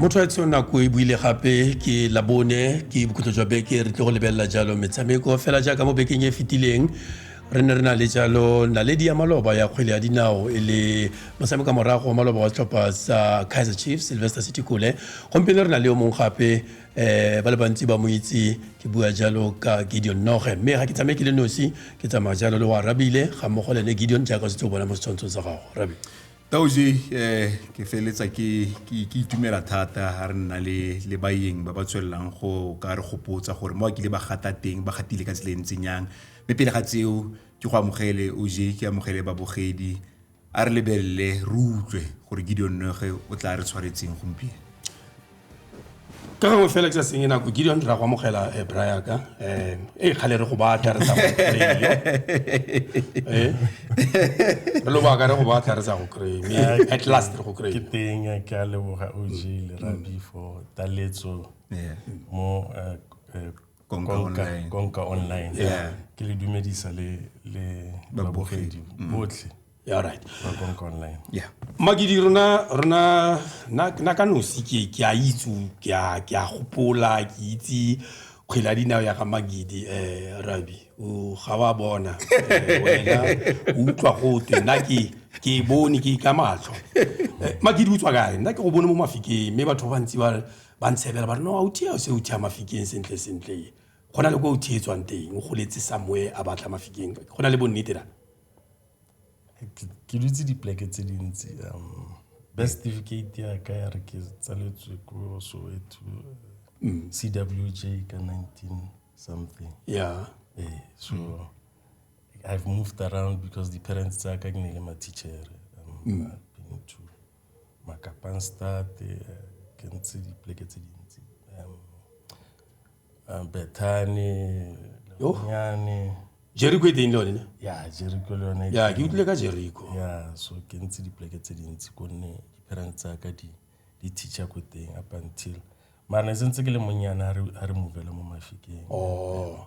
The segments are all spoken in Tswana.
mo tshwaetsong nako e buile gape ke labone ke bokhutlo jwa beke re tle go lebelela jalo metshameko fela jaaka mo bekeng e fetileng re ne re na le jalo naledi ya maloba ya kgwele ya dinao e le motshameka morago wa maloba wa setlhopha sa kaizer chiefs sylvester city kole gompieno re na le yo mongwe gape eh ba le bantsi ba mo itse ke bua jalo ka gideon noge mme ga ke tsamaye ke le nosi ke tsamaya jalo le wa rabile ga mmogo le ne gideon jaaka setse o bona mo setshwantshong sa gago rabi taoje um eh, ke feletsa ke itumela thata ga re nna le le baeng ba ba tswelelang go ka re gopotsa gore mo a kile ba gata teng ba gatile ka tsela e ntseng yang mme pele ga tseo ke go amogele oje ke amogele babogedi A re lebelele re utlwe gore Gideon Noege o tla re tshwaretseng gompieno. ka gangwe fela ke sa senye nako gideon ra go amogela eh, bra yaka um e kgale re go batla re sa go kry-e. Eh, re lobaka re go batla re sa go kry-e, mme at last re go kry ke teng eh, ke a leboga og le rabi for taletso Yeah. mo eh, eh, konka online konka online yeah ke le dumedisa le le babogedi mm. botlhe yeah right ba konka online yeah magidi rona rona na na ka nosi ke ke a itsu ke a ke a gopola ke itse kgwela dinao ya ga magidi eh rabi o ga wa bona eh, wena o utlwa go twe nna ke ke e bone ke ka matlho eh, magidi o tswa kae nna ke go bone mo mafikeng mme batho ba bantsi ba ba ntshebela ba re no authi eo se uthi a mafikeng sentle sentle e go na le ko uthi e tswang teng o goletse samoe a batla mafikeng go na le bonnete na ke dutse dipleke tse dintsi um best certificate ya ka ya re ke tsaletswe ko soweto mm. cwj ka 19 something yeah eh, so mm. i've moved around because the parents tsa ka ke ne le ma-teacher um, mm. been to Makapanstad, ke ntse dipoleke tse dintsi. Um, Bethany, Lenyane. Jericho e teng le yone ne? Ya, Jericho le yone. Ya, ke utlwile ka Jericho. Ya, so ke ntse dipoleke tse dintsi gonne di-parents tsa ka di di teacher ko teng up until mara ne sentse ke le monnyane a re a re movele mo mafikeng Oh.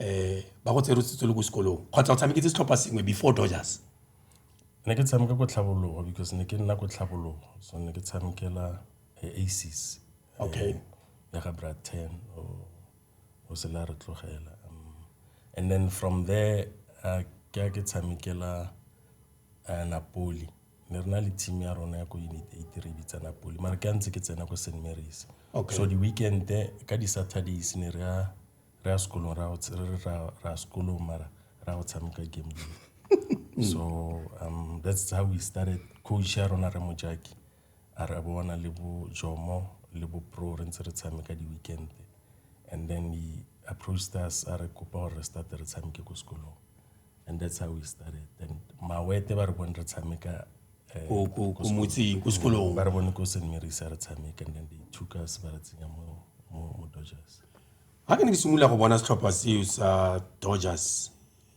um ba go tsere setswe le ko sekolong kgotsa o tshameketse setlhopha sengwe before dodgers ne ke tshameka ko tlhabologo because ne ke nna ko tlhabologo so ne ke tshamekela eh, aces eh, Okay. ya ga bra ten o o se la re tlogela Um, and then from there uh, ke ya ke tshamekela uh, napoli ne re na le team ya rona ya ko unit eight re e bitsa napoli mara ke a ntse ke tsena ko st marys Okay. so di-weekend ka di-saturdays ne re ya re ya sekolong ra ra sekolong mara ra go tshameka game so um that's how we started coach ya rona re mojaki a re bona le bo jomo le bo pro re ntse re tshameka di-weekend and then he approached us a re kopa gore re starte re tshameke ko sekolong and that's how we started and mawete ba re bone re tshameka eh, ko motseng ko sekolong ba re bone ko st marys a re tshameka and then they took us ba re tsenya mo dodgers Ga ke ne ke simolola go bona setlhopha seo sa Dodgers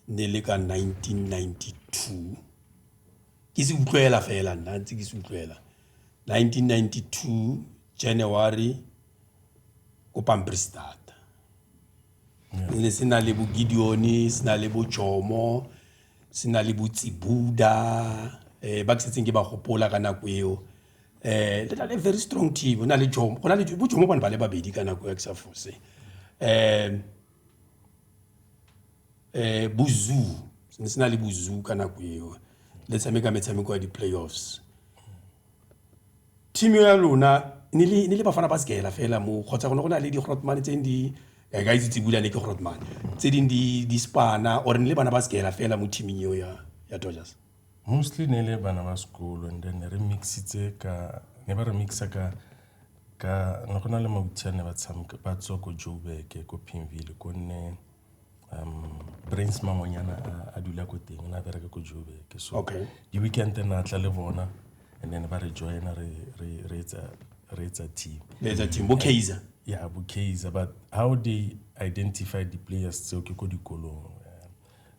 ne le ka 1992 ke se utlwela fela nna ntse ke se utlwela 1992 January ko Pampierstad ne se na le bo Gideon se na le bo Jomo se na le bo Tsibuda eh ba ke setseng ke ba gopola ka nako eo eh le na le very strong team go na le jomo go na le bo jomo bone ba le babedi ka nako ya ke sa fose um um bozu ne se na le bozu ka nako eo le tshameka metshameko ya di-playoffs team ya lona ne le bafana ba sekela fela mo kgotsa gone go na le di-grotmane tse di eh, ka itse tsebulane ke grotmane tse dingwe di-spana or ne le bana ba sekela fela mo teaming eo ya dodgers Mostly ne le bana ba sekolo and then re mix-itse ka ne ba re mix-a ka ka ne go na le ne ba tshameka ba tswa ko Joburg ko Pimville ko nne Brains Mangonyana a dula ko teng o ne a bereka ko Joburg so di weekend ne a tla le bona and then ba re join-a re re re etsa re etsa team le etsa team bo Kaizer ya bo Kaizer but how they identify di players tseo ke ko dikolong.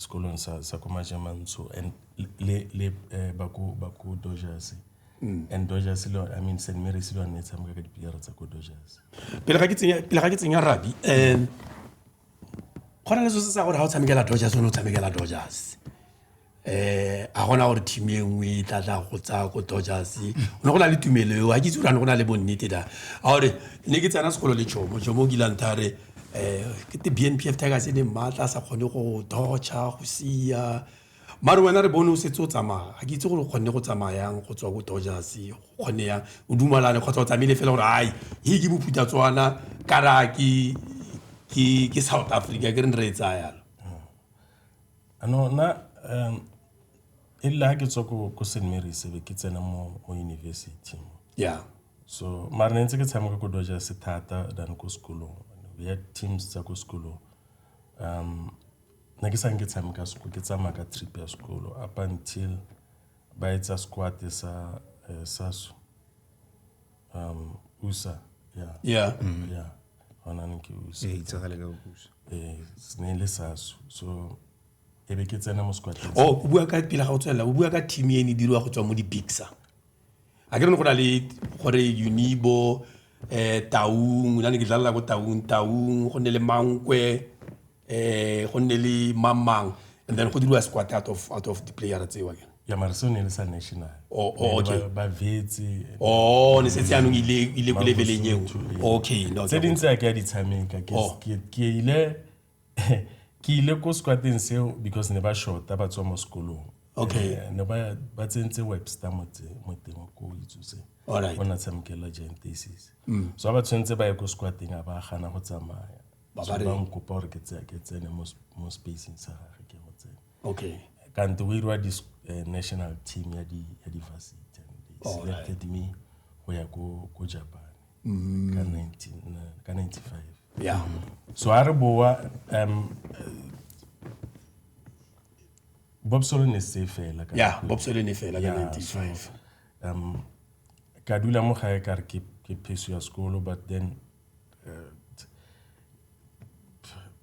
sekolong sa sa ko majamantsho and le le eh, ba ko ba ko dojase mm. and dojase le i mean st marys le one e tshameka ka dipilere tsa ko dojase pele ga ke tsenya pele ga ke tsenya rabi um go na le se se sa gore ga o tshamekela dojase o ne o tshamekela dojase eh a gona gore team e nngwe e tla tla go tsaya ko dojase o ne go na le tumelo eo ga ke itse gore ne go na le bonnete da a gore ne ke tsena sekolo le jomo jomo o kilantha re um kete bnpf tigers e ne maatla a sa kgone go dodger go sia mare wena re bone o setse o tsamaya ga ke itse gore o kgonne go tsamayang go tswa ko dodgers go kgonne yang o dumalane kgotsa o tsamaile fela gore ai he ke bophutha tswana kara ke ke south africa ke re ne re e tsaya yalo ano na um e rile ga ke tswa ko st marys be ke tsena mo university ya yeah. So mare ne ntse ke tshameka ko Dodgers thata than ko sekolong. We had teams tsa ko sekolong. Um, ne ke sang ke tshameka sekolo, ke tsamaya ka trip ya sekolo up until ba etsa squad sa eh, saso um usa yeah yeah yeah hona ne ke usa e itsagale ka bopuso eh ne e le saso so e be ke tsena mo squad o bua ka pila ga o tswelela o bua ka team e ne e diriwa go tswa mo di-bigsa a ke re go na le gore unibo um taung la ne ke dlalela ko taung taung go nne le mankwe um go nne le mamang and then go diriwa squat out of, out of the player tseo ke ya mare seo ne le sa national Oh, oh, Ne le okay. ba- ba vetse o Oh, ne setse yanong ile ile ko Ba leveleng eo Bosotho, ee. okay no tse dingwe tse a ke a di tshameka Ke- Oh. ke ke ile ke ile ko squateng seo because ne ba shorta ba tswa mo sekolong okay eh, ne ba ba tsentse webster motse mo teng ko itsuse alright ona tshamkela giant thesis mm. so ba tshwentse ba ye ko squateng a ba gana go tsamaya ba ba reng go pa ke tse ke tsene mo mo spacing sa gagwe ke go tsene okay ka nto we rwa dis eh, national team ya di ya di varsity and they selected me go ya ko ko japan mm. ka 19 ka 95 ya so a re boa um bob solone se fela ka ya bob solone fela ka 95 um ka dula mo gae ka re ke ke pheso ya sekolo but then uh,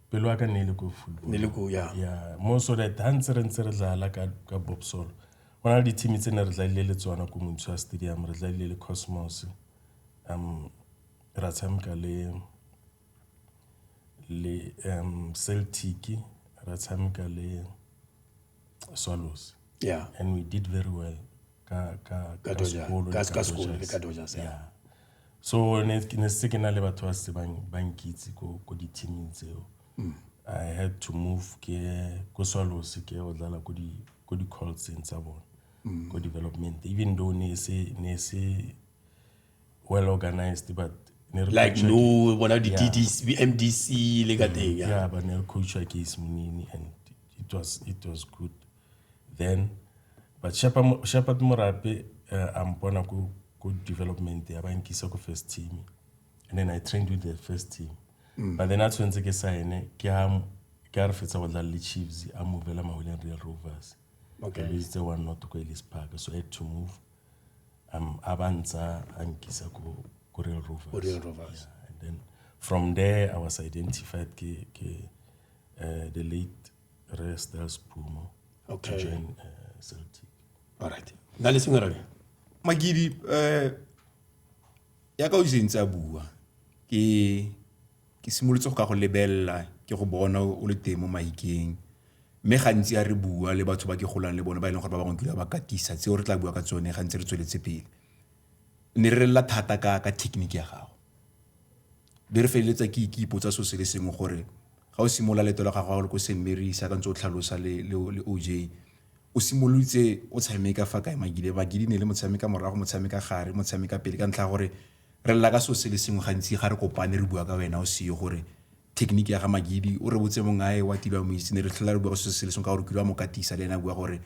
pelo ya ka ne e le ko football ya mo so that ha ntse re ntse re dlala ka ka bob solo go na le dithimi tse ne re dlalile le tsona ko montshwa stadium re dlalile le cosmos um ra tshameka le Celtic, ra tshameka le Swallows. Yeah. And we did very well ka ka ka sekolo ka ka sekolo le ka Dodgers. Yeah. So ne ke ne se ke na le batho ba se bang ba nkitse ko ko di teaming tseo. Mm. I had to move ke ko Swallows ke o dlala ko di ko di calls tsa bona. Mm. Ko development even though ne se ne se well organized but like no bona di DDC yeah. MDC le ka teng yeah. yeah but ne re coachwa ke Simonini and it was it was good then but Shepherd Shepherd Morape uh, I'm bona ku ku development ya bankisa ku first team and then I trained with the first team mm. but then a tshwentse ke sign ke ha ke a re fetsa go dlala le Chiefs a movela Mahuleng Real Rovers okay. ke le itse one not go Ellis Park so I had to move a ba ntsa a nkisa ko ko Real Rovers. Real Rovers. Yeah, and then from there I was identified ke ke uh, the late Resters Pumo okay. to join uh, Celtic. All right. Na le sengwe rabe. Magidi eh uh, ya ka o sentse a bua ke Ke simolotse go ka go lebelela ke go bona o le teng mo maikeng. Mme gantsi a re bua le batho ba ke golang le bone ba e leng gore ba bangwe kile ba katisa tseo re tla bua ka tsone ga ntse re tsweletse pele. Ne re relela thata ka ka technique ya gago. Be re feleletsa ke ke ipotsa so se le sengwe gore ga o simolola leeto la gago le ko St. Mary's jaaka ntse o tlhalosa le le OJ o simolotse o tshameka fa kae magidi? Magidi ne le motshameka morago motshameka gare motshameka pele ka ntlha ya gore Re lela ka selo se le sengwe gantsi ga re kopane re bua ka wena o seyo gore thekeniki ya ga Magidi o re botse mong ae wa tilwa moitse ne re tlhola re bua ka selo se le sengwe ka gore kile wa mo katisa le ene a bua gore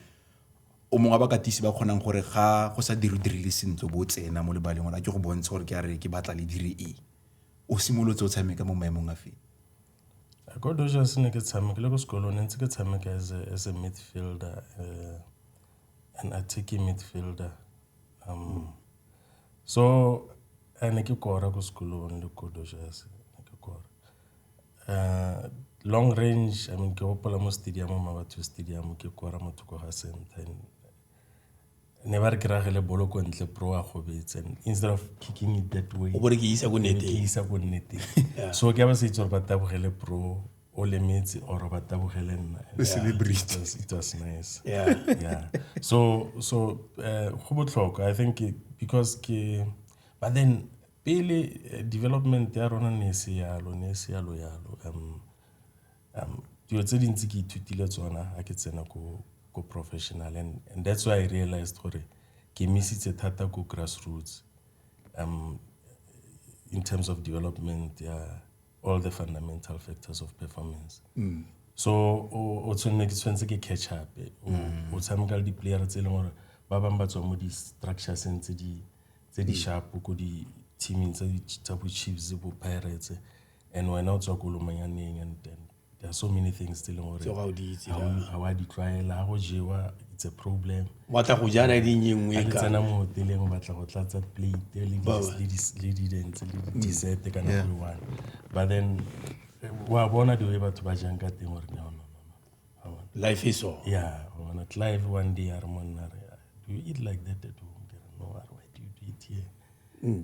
o mongwe wa bakatisi ba kgonang gore ga go sa dire o dirile sentle bo tsena mo lebaleng gore a ke go bontshe gore ke a re ke batla le dire e o simolotse o tshameka mo maemong a feng Ko Dodgers ne ke tshamekile ko sekolong ne ntse ke tshameka as a, as a midfielder uh, an attacking midfielder um, mm. So ne ke kora ko sekolong le ko Dodgers ne ke kora. Long range I mean ke gopola mo stadium-ong Mmabatho stadium ke kora mo thoko ga center and ne ba re ke rage le bolo ko ntle bro a gobetse and instead of kicking it that way, o bo re ke isa ko neteng, ke isa ko neteng so ke ba sa itse gore ba tabogele bro. o lemetse or ba tabogele nna it was nice yeah. yeah. so so eh, go botlhokwa i think because ke but then pele eh, development ya rona ne se yalo ne se yalo yalo um um dilo tse dintsi ke ithutile tsona a ke tsena ko ko professional and, and that's why i realized gore ke misitse thata ko grassroots um in terms of development ya yeah, all the fundamental factors of performance mm. so o tshwanne ke tshwanetse ke catch up mm. o tshameka le di-player tse e leng gore ba bangwe ba tswa mo di-structureseng tse di mm. sharp ko di-teaming tsa bo-chiefs bo-pirates and wena o tswa ko lomanyaneng and then there are so many things tse e leng gore ga wa di tlwaela ga go jewa it's a problem wa tla go jana di nngwe e ka tsena mo hoteleng o batla go tlatsa plate le di le di dentse le di dessert kana yeah. go one but then wa bona di batho ba jang ka teng gore no no no life is so yeah ona clive one day a re monna re do you eat like that at home no why do you eat here mm.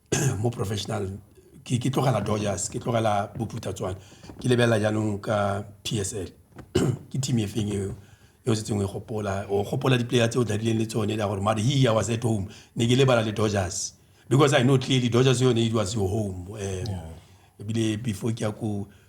mo professional ke ke tlogela Dodgers ke tlogela bophutha tswana ke lebelela jaanong ka PSL ke team e feng eo yo se tsengwe gopola o gopola di-player tse o dlalileng le tsone la gore mare he i was at home ne ke lebala le dodgers because i know clearly dodgers yone it was your home um ebile before ke ya ko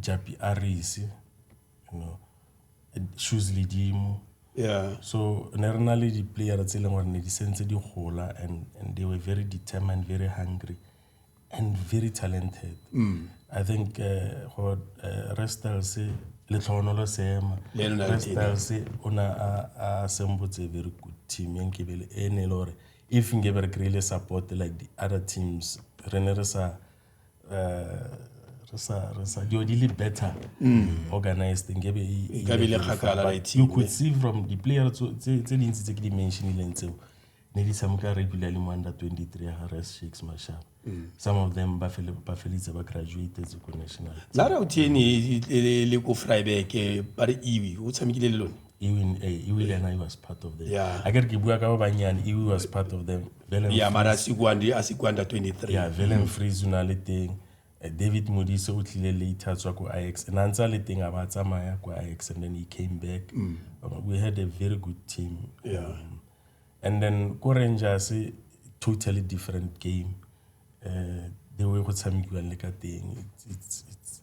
japi a rese you know shoes ledimo yeah so ne re na le di-player tse e leng gore ne di sentse di gola and, and they were very determined very hungry and very talented mm. i think uh, go uh, restels letlhogonolo seema restels o ne a sembotse very good team ya nkebele e ne e le gore if nkebe re kry-ile support like the other teams re ne re sa eh, re sa re sa dilo di le better mm. organized nkabe e, e le kgakala right you could see from the player tse tse dintsi tse ke di mentionileng tseo ne di tshameka regularly mo under 23 ya harris shakes mashaba mm. some of them ba felitse ba graduated ko national la ra o tiene e, e, le ko fryback eh, ba re iwi o tshamekile le lone even eh, iwi le ena was part of them yeah. a kere ke bua ka ba bannyane iwi was part of them yeah, mara a se ko under 23 yeah, velen freeze o na le teng eh, david modise o tlile later tswa ko ix and a ntse a le teng a ba tsamaya ko ix and then he came back mm. Um, we had a very good team yeah. um, and then ko rangers eh, totally different game uh, the way go tshamekiwang le ka teng it's, it's,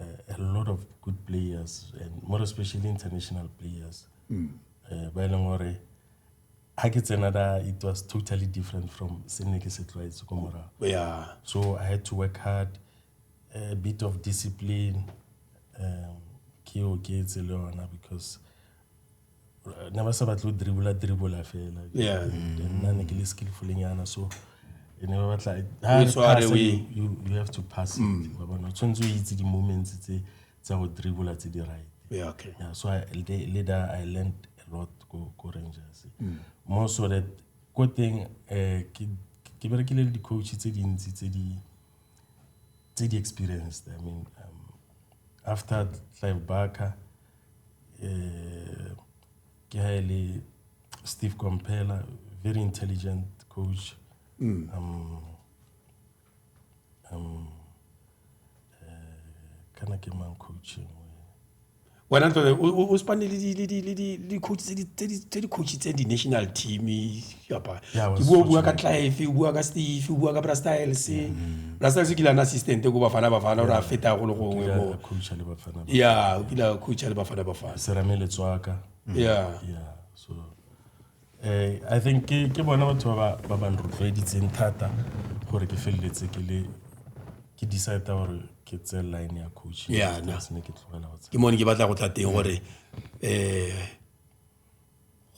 uh, a lot of good players and more especially international players mm. uh, ba e leng gore ga ke tsena da it was totally different from se ne ke se tlwaetse ko morago so i had to work hard a bit of discipline um, ke oketse le yona because ne ba sa batle go dribula dribula fela yeah. nna ne ke le skillfulenyana so e ne ba batla you have to pass mm. ba bona o tshwanetse o itse di-moments tse tsa go dribula tse di right yeah, okay. yeah, so I, later i learned a lot ko, ko rangers mm. mo so that ko teng um ke berekile le di-coach tse dintsi tse di tse di experienced i mean um, after clive barker ke ha e le Steve Komphela very intelligent coach mm. um, um, kana ke mang coach wena ntse o spane le di coach tse di coach tse di national team apa ke bua bua ka clive o bua ka steve o bua ka bra styles mm. bra styles o kile ana assistant ko bafana bafana ore a feta go le gongwe mo ya o kile a coacha le bafana bafana serame le tswaka mm. ya so eh i think ke ke bona batho ba ba ba nrotloeditseng thata gore ke feleletse ke le ke decide gore ke tse line ya coach ya ne ke tlogela go tsa ke mone ke batla go tla teng gore eh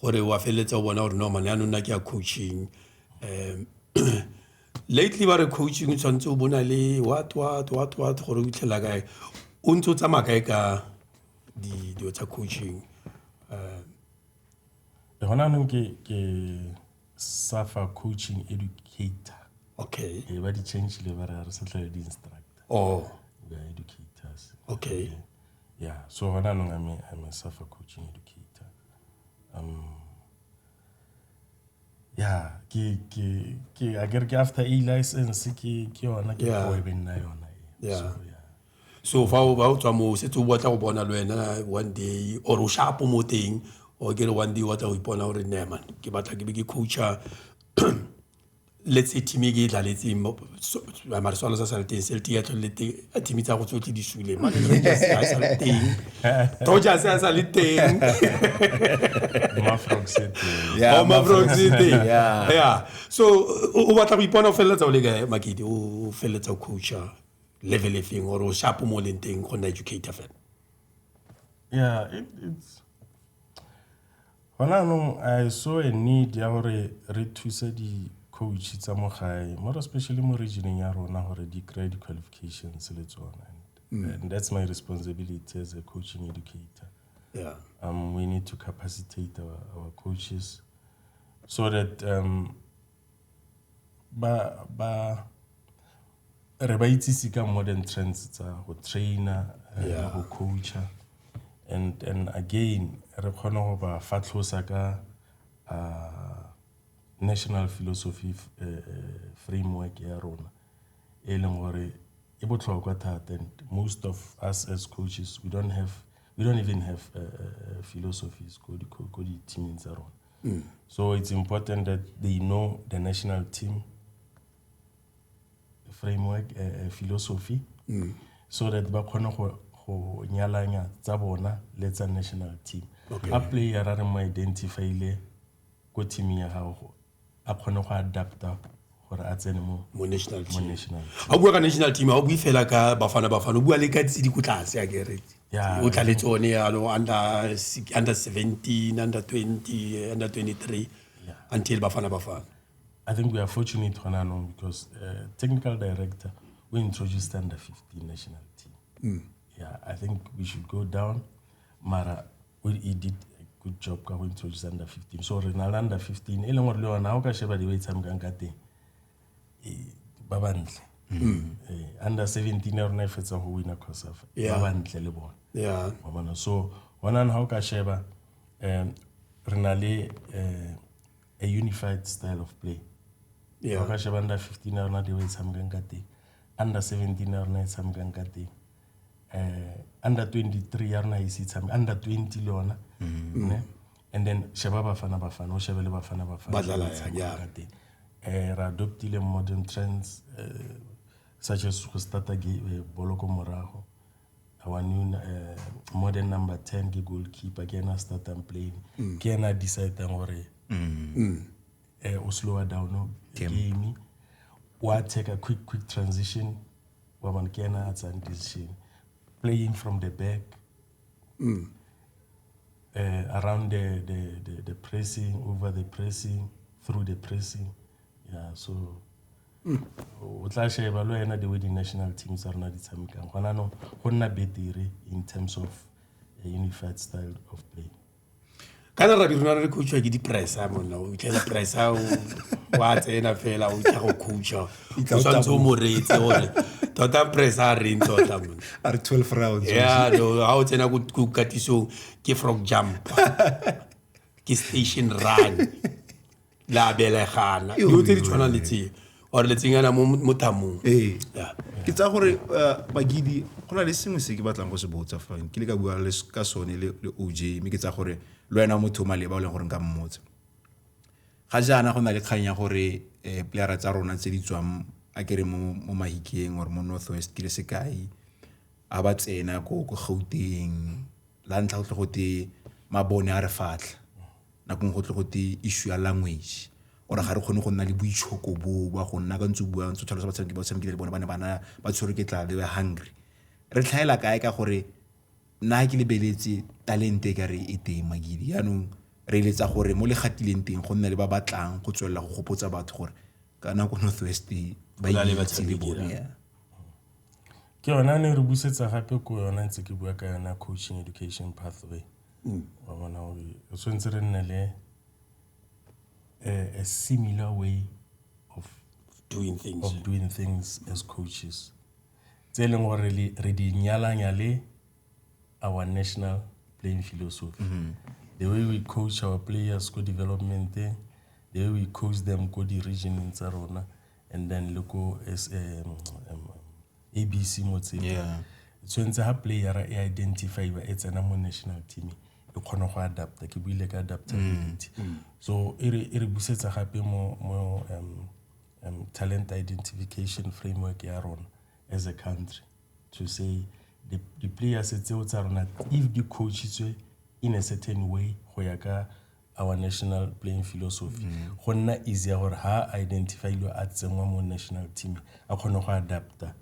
gore wa feleletsa o bona gore no mane anong nna ke ya coaching um lately ba re coaching o tshwanetse o bona le what what what what gore o itlhela kae o ntse o tsamaya kae ka dilo tsa coaching um gona anong ke safa coaching educator okay e ba di-changele ba re re sa tlhale di-instructor oh ba educators okay Yeah, so what I'm I mean, I mean, suffer coaching educator. Um, yeah, ke, ke, ke, I get after a license, ke, ke yona, ke yeah. kgwebeng na yona. Yeah. So, yeah. so fa o ba o tswa mo setse o batla go bona le wena one day or o shapo mo teng or ke re one day o batla go ipona gore ne man ke batla ke be ke coacha let's say team e ke e dlaletseng mare swalo sa sale teng selte ya tlhole teng a team tsa go tsotlhe di sule tojas a sale teng so o batla go ipona o feleletsa o le ka makete o feleletsa o coacha level e feng or o shapo mo leng teng go nna educator fela yeah it, it's Gone jaanong I saw a need ya gore re thuse di-coach tsa mo gae more especially mo regioneng ya rona gore di kry di-qualifications le tsone mm. and that's my responsibility as a coaching educator yeah. um, we need to capacitate our, our coaches so that um, Re ba itsise ka modern trends tsa go train-a, go coach-a and again re kgone go ba fatlhosa ka national philosophy framework ya rona e leng gore e botlhokwa thata and most of us as coaches we don't even have philosophies ko di-team-ing tsa rona. Mm. So it's important that they know the national team framework, uh, philosophy, mm. so that ba kgone go go nyalanya tsa bona le tsa national team. Okay. A player a re mo identify le ko team ya gago a kgone go adapta gore a tsene mo mo national mo team national ga o bua ka national team ga o bue fela ka bafana bafana o bua le ka tse di ko tlase a kere Yeah. o tla le tsone yalo under si- under 17 under 20 under 23 until bafana bafana I think we are fortunate gona anong because uh, technical director we introduced under 15 national team. Yeah, I think we should go down. Mara o e did a good job ka go introduce under 15 so re na le under 15 e leng gore le yona ga o ka sheba di ba e tshamekang ka teng eh, ba bantle mm. eh, under 17 ya rona e fetsa go wina cosafa ba bantle le bone yeah. bona so gonane ga o ka sheba um re na le um a unified style of play yeah. ga o ka sheba under 15 ya rona di ba e tshamekang ka teng under 17 ya rona e tshamekang ka teng under 23 ya rona ise tshameke under 20 le yona mm-hmm. ne and then sheba bafana bafana o shebe le bafana bafana ka teng um re adoptile modern trends uh, such as go starta eh, bolo ko morago our new uh, modern number 10 ke goalkeeper ke ena a startang playing mm. ke ena a decidang gore mm. mm. eh, o slower down game wa take a quick quick transition wa bone ke ena a tsayang decision playing from the back mm. uh, around the, the, the, the pressing over the pressing through the pressing yeah so mm. o tla sheba le wena the way di-national team tsa rona di tshamekang gona no go nna betere in terms of a unified style of play ka na rabi rona re coachwa ke di-price a monna o itlhela price a wa tsena fela o itlha go coacha o tshwanetse o moretse gore tota price a reng tota a re twelve rounds ya ga o tsena ko katisong ke frog jump ke station run la belegana dilo tse di tshwanang le tseo or letsenyana mo mo thamong ee Yeah. ke tsaya gore eh, bagidi go na le sengwe se ke batlang go se botsa fa ke le ka bua le s- ka sone le le oj mme ke tsaya gore le wena o motho o maleba o leng gore nka mmotsa ga jaana go na le kgang ya gore um playera tsa rona tse di tswang a kere mo mo mahikeng or mo north west ke le sekai ga ba tsena ko Gauteng la ntlha go tle go te mabone a re fatlha nako nngwe go tle go te issue ya language or-e ga re kgone go nna le boitshoko boo ba go nna ka ntse o bua ntse o tlhalosa batshameki ba o tshamekileng le bone ba ne ba na ba tshwerwe ke tlala they were hungry re tlhaela kae ka gore nna ga ke lebeletse talente e ka re e teng Magidi jaanong re eletsa gore mo le gatileng teng go nne le ba ba tlang go tswelela go gopotsa batho gore ka nako North West ba Go na le itse le batshameki, bone yeah. yeah. Ke yona ne re busetsa gape ko yona ntse ke bua ka yona coaching education pathway mm. wa bona gore re tshwanetse re nne le a similar way of doing things, of doing things as coaches tse e leng gore re di nyalanya le our national playing philosophy mm -hmm. the way we coach our players ko development the way we coach them ko di-regioneng tsa rona and then le ko ABC Motsepe. Tshwentse ha player e identify e tsena mo national team e kgona go adapta ke buile ka adaptability mm. Mm. so e re busetsa gape mo mo um, um, talent identification framework ya rona as a country to say the, the players tseo tsa rona if di coachitswe in a certain way go ya ka our national playing philosophy mm. go nna easy ya gore ha a identifyilwe a tsenngwa mo national team a kgone go adapta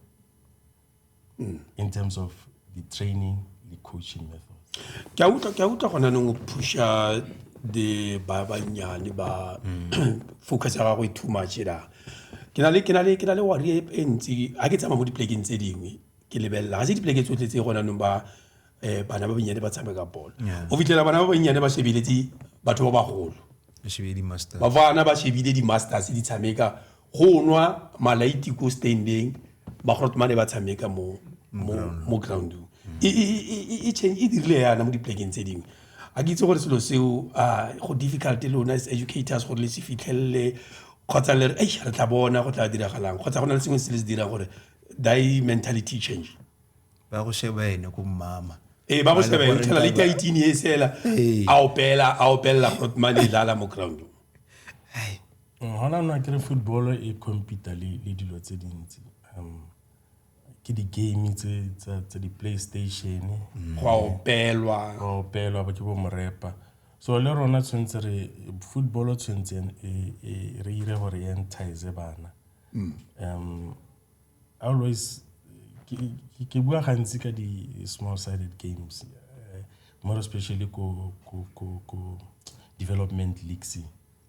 mm. in terms of the training the coaching methods ke a utlwa ke a utlwa gona neng o pusha the ba bannyane ba mm. focus ya gagwe too much da ke na le ke na le ke na le wari e, e ntsi ga ke tsamaya mo dipolekeng tse dingwe ke lebelela ga se dipoleke tsotlhe tse gona nong ba eh bana ba bannyane ba tshameka bolo o fitlhela bana ba bannyane ba shebeletse batho ba bagolo ba bana ba shebile di-masters di tshameka go nwa malaiti ko standeng bagorotmane ba tshameka mo mo groundong e, e, e, e dirile yana mo diplekeng tse dingwe a ke itse gore selo seo go difficult lona as educators gore le se fitlhelele kgotsa le re re tla bona go tla diragalang kgotsa go na le sengwe se le se dirang gore thy mentality change ba go sheba ene ko mmama ee ba go sheba ene tlhela le kaitini e sela a opela a opelela mane e dlala mo ground gona nna kere football e compete le dilo tse dintsi um ke di-game tse di-playstation mm. go opelwa go opelwa ba ke bo morepa so le rona tshwanetse re football tshwanetseng e, e, re ire gore e entize bana mm. um always ke bua gantsi ka di-small sided games eh, more especially ko, ko, ko, ko development leagues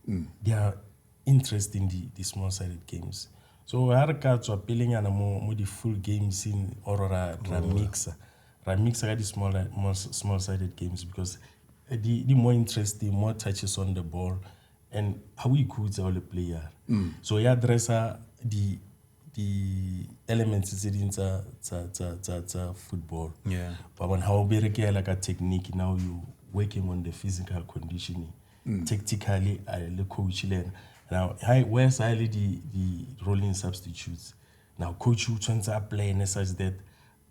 mm. they are interesting the, the small sided games so ha re ka tswa pelenyana mo, mo di-full games in or ra, ra oh. mixa ra mixa ka di-small small sided games because eh, di, di more interesting more touches on the ball and ha o ikhutsa o le player mm. so ya addressa di di elements tse ding tsa tsa tsa tsa tsa football yeah ba bona ha o berekela ka technique now you working on the physical conditioning mm. tactically a le coach le now hi where sa le di di rolling substitutes now coach o tshwantse a plan such that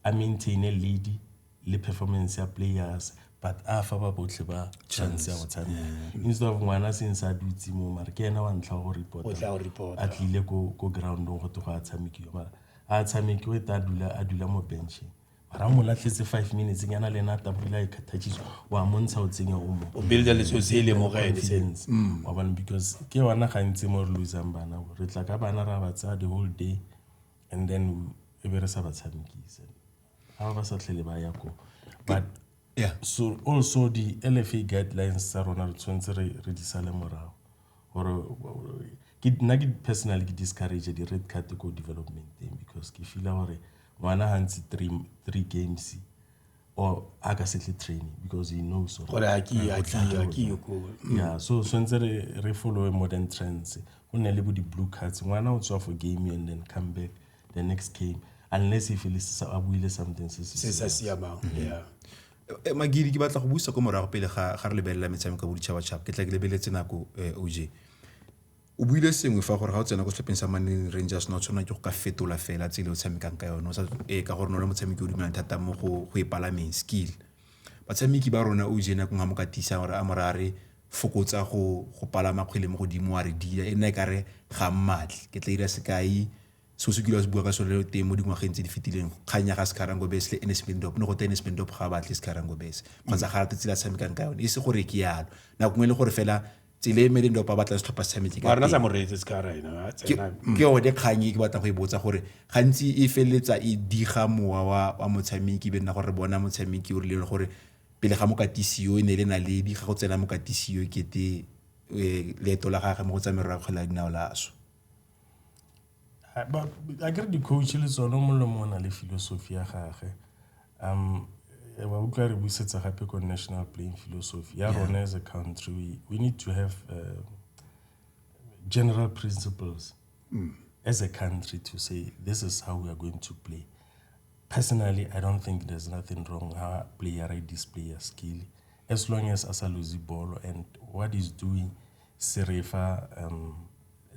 a maintaine lead le performance ya players but a fa ba botlhe ba chance ya go tshameka instead of ngwana seng sa dutse mo mare ke ena wa ntlha go reporta a tlile ko groundong go te go a tshamekiwa mara a tshamekiwe ta dula a dula mo bencheng ra mo latlhetse five minutes nyana le ena tabula e khathachiso wa montsha o tsenya o mo o builda letso se le mo gae sense mm. wa bona because ke yona gantsi mo re losang bana re tla ka bana ra ba tsaya the whole day and then e be re sa ba tshamekise ga ba sa tlhele ba ya ko but yeah. so also di lfa guidelines tsa rona re tshwanetse re re di sale morago gore ke nna ke personally ke discourage di-red card ko developmenteng because ke feela gore ngwana gantsi three games or a ka setle training because he knows gore a ke a ke a ke ko mm. yeah so swentse re re follow modern trends go ne le bo di blue cards ngwana o tswa for game and then come back the next game unless he feels a buile something se se sa siamang mm-hmm. yeah eh, magiri ke batla go busa ko morago pele ga ga re lebelela metshameko ka boditšhabatšhaba ke tla ke lebeletse nako eh, oj O buile sengwe fa gore ga o tsena ko setlhopheng sa Mamelodi Rangers ne o tshwanela ke go ka fetola fela tsela o tshamekang ka yone o sa ee ka gore ne o le motshameki o dumelang thata mo go go e palameng skill batshameki ba rona o je nako nngwe mo ka tiisang gore a mo ra re fokotsa go go palama kgwele mo godimo wa re dila e nna e kare ga mmatle ke tla ira sekai so se kile se bua ka sone teng mo dingwageng tse di fetileng kganya ga Scarango Bes le Enes Bendop ne go te Enes Bendop ga batle Scarango Bes kgotsa ga rate tsela tshamekang ka yone e se gore ke yalo nako nngwe le gore fela tsele e meleng dopa batla setlhopha sa metse ka rena sa moretse se ka rena ke yone kgang e ke batla go e botsa gore gantsi e feleletsa e diga mowa wa wa motshameki be nna gore bona motshameki o rile gore pele ga mokatisiyo e ne le naledi ga go tsena mokatisiyo kete leeto la gagwe mo go tsa merero ya kgwele ya dinao la swa a ke re di-coach le tsone molemo o na le philosophy ya gage ba utlwa re busetsa gape ko national playing philosophy ya rona as a country we, we need to have uh, general principles mm. as a country to say this is how we are going to play personally i don't think there's nothing wrong how player i display a skill as long as a sa lose ball and what is doing serefa um,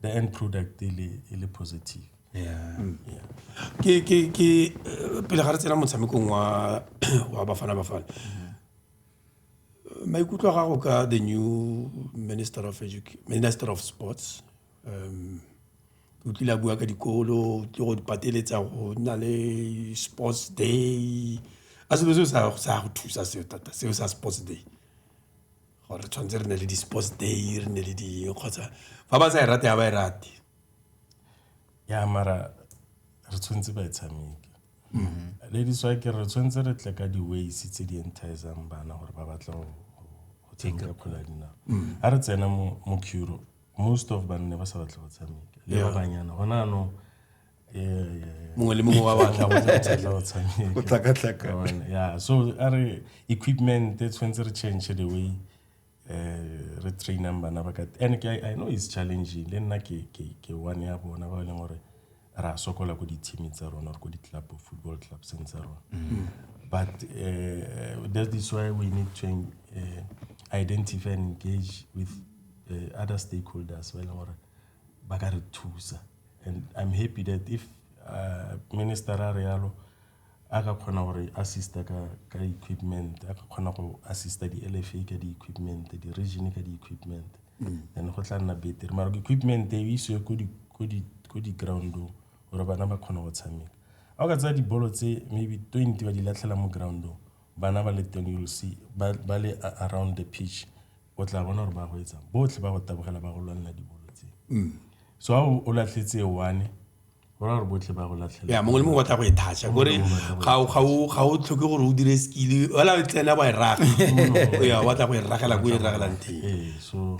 the end product e le e le positive yeah mm. yeah ke ke ke eh, pele ga re tsena motshamekong wa wa bafana bafana mm-hmm. maikutlo ga go ka the new minister of education minister of sports um o tlile a bua ka dikolo ke go dipateletsa go nna le sports day a selo seo sa go thusa seo thata seo sa sports day gore re tshwanetse re ne le di-sports day re ne le di kgotsa fa ba sa e rate ga ba e rate ya mara re tshwanetse ba e tshameke mm-hmm. ladies wa ke re tshwanetse re tle ka di-ways tse di entisang bana gore ba batla go tshameka kgwele ya dinao mm-hmm. a re tsena mo curo most of banne ba sa batle go tshameka le ba banyana gona anong mongwe le mongwe wa batla go tsela go tshameka go tlakatlaka yeah so are re equipment e tshwanetse re change the way uh, re trainang bana ba ka and I, i know it's challenging le nna ke ke ke one ya bona ba e leng gore ra sokola ko di-teaming tsa rona or ko di-club football clubseng tsa rona mm. but uh, that is why we need to uh, identify and engage with uh, other stakeholders ba e leng gore ba ka re thusa and i'm happy that if uh, minister a re yalo a ka kgona gore assista ka ka equipment a ka kgona go assista di-lfa ka di-equipment di-region ka di-equipment mm. then go tla nna betere mara equipment e isiwe ko di-groundong gore bana ba kgona go tshameka a o ka tsaya dibolo tse maybe twenty ba di latlhela mo groundong bana ba le ten you will see ba le around the pitch o tla bona gore ba go etsang botlhe ba go tabogela ba go lwanela dibolo tse mm. so ga o latlhetse one gore botlhe ba go latlhela mongwe le mongwe batla go e thatša kore ga o tlhoke gore o dire skile ola o tsena wa e raga ya batla go e ragela ko e ragelang teng ee, so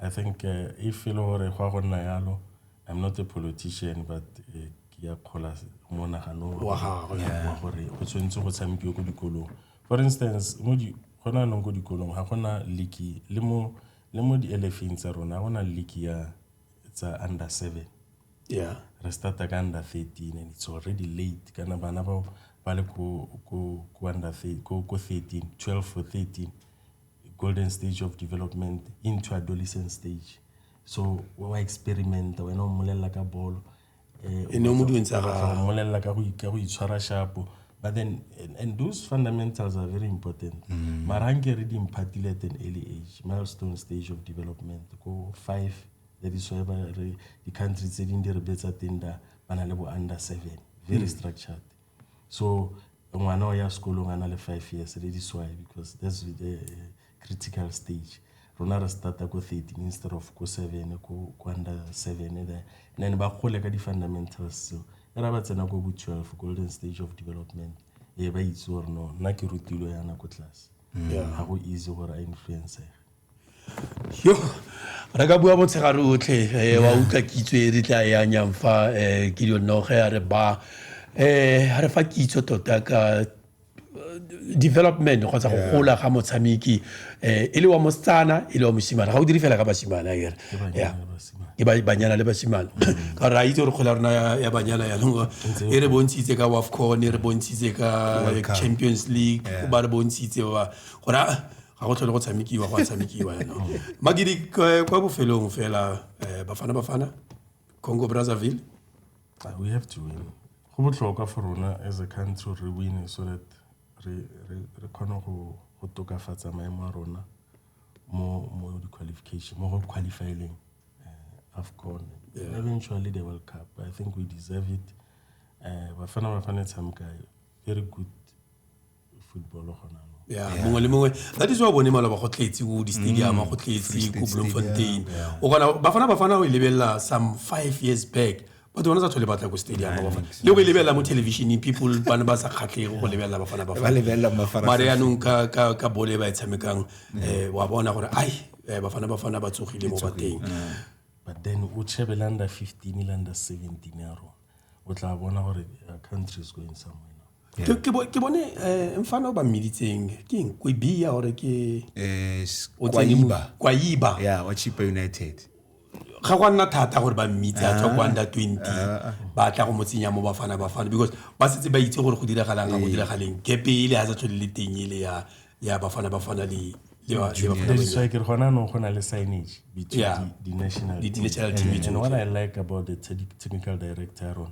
i think eh, if e le gore go ya go nna yalo i'm not a politician but eh, ke ya kgola monagano wa gore go tshwanetse go tshamekiwe ko dikolong for instance mo di go na nong ko dikolong ga gona leaky le mo le mo di-elefeng tsa rona ga gona leaky ya tsa under seven yeah re starta ka under thirteen and it's already late kana bana bao ba le ko ko ko under ko ko thirteen twelve for thirteen golden stage of development into adolescent stage so wa wa experimenta wena o mmolelela ka bolo eh, e ne o mo dueng tsa gagwe mmolelela ka go itshwara shapo but then and, and those fundamentals are very important mm. mara nke re di mphatile at an early age milestone stage of development ko five that is why di-country tse dingwe di re betsa teng da ba na le bo under seven very mm. structured So ngwana o ya sekolong a na le five years le this why because that's the eh, critical stage rona re starta ko thirteen instead of ko seven ko under seven eh, there then ba gole ka di-fundamentals seo e ra ba tsena ko bo twelve golden stage of development e ba itse gore no nna ke rutilo yana ko tlase ga go easy gore a influencege yo re ka bua motshegare otlhe eh, wa utlwa kitso e re tla e anyang fa eh, ke dionoge a re ba um re fa kitso tota ka eh, development kgotsa go gola ga motshameki um e le wa mosetsana e le wa mosimane ga o dire fela ka basimane a kere ke banyana le basimane mm. ka gore a itse gore kgole ya rona ya banyana yanong e re bontshitse ka wafcon e re bontshitse ka champions league ba re bontshitse ba gore ga go tlhole go tshamekiwa go a tshamekiwa yana magidi kwa bofelong fela um bafana bafana congo brazzaville ah, we have to win go botlhokwa for rona as a country re wine so that re kgone go tokafatsa maemo a rona mo mo di-qualification mo go qualifyeleng uh, afcon yeah. eventually the world cup i think we deserve it um uh, bafana bafana e tshameka very good football gona mo ya mongwe le mongwe that is why bone maloba go tletse o di-stadium mm, go tletse ko bloemfontein o kgona bafana bafana o e lebelela some five years back batho bana sa tlhole batla ko stadium le go e lebelela mo televisioneng people bane ba sa kgatlhego go lebelela bafana bafamare yanong ka bole e ba e tshamekang um wa bona gore ai eh, bafana bafana ba tsogile mo bateng but then o chebe le under fifteen le under seventeen ya rona o tla bona gore uh, country is going somewhere Yeah. ke bo- ke bone eh, mfana o ba mmeditseng ke eng kwebia gore ke Eh, s- o tsene mo- Kwaiba. kwaiba Yeah, wa Chipa United. ga gwa nna thata gore ba mmitse a tswa kwa under 20 ba tla go mo tsenya mo bafana bafana because ba setse ba itse gore go diragalang ga go diragaleng kepe ele ga sa tlhole le teng ele ya ya bafana bafana le le ba- le bafana That is banyana. why ke re gona no go na le signage between Yeah. the, the national Di- di national team and, and what I like about the te- technical director ya rona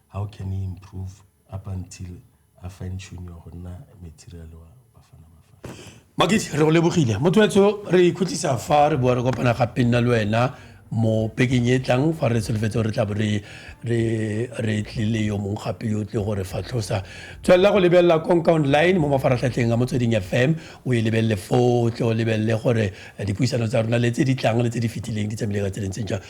how can he improve up until a fine tune go nna material wa bafana bafana makiti re go lebogile motho wetso re ikhutlisa fa re boa re kopana gape nna le wena mo peking e tlang fa re solofetse gore re tla bo re tlile yo mongwe gape yo tle gore fatlhosa tswelela go lebelela konka online mo mafaratlhatlheng a motsweding fm o e lebelele foo tle o lebelele gore dipuisano tsa rona le tse di tlang le tse di fetileng di tsamaile ka tse lentseng jang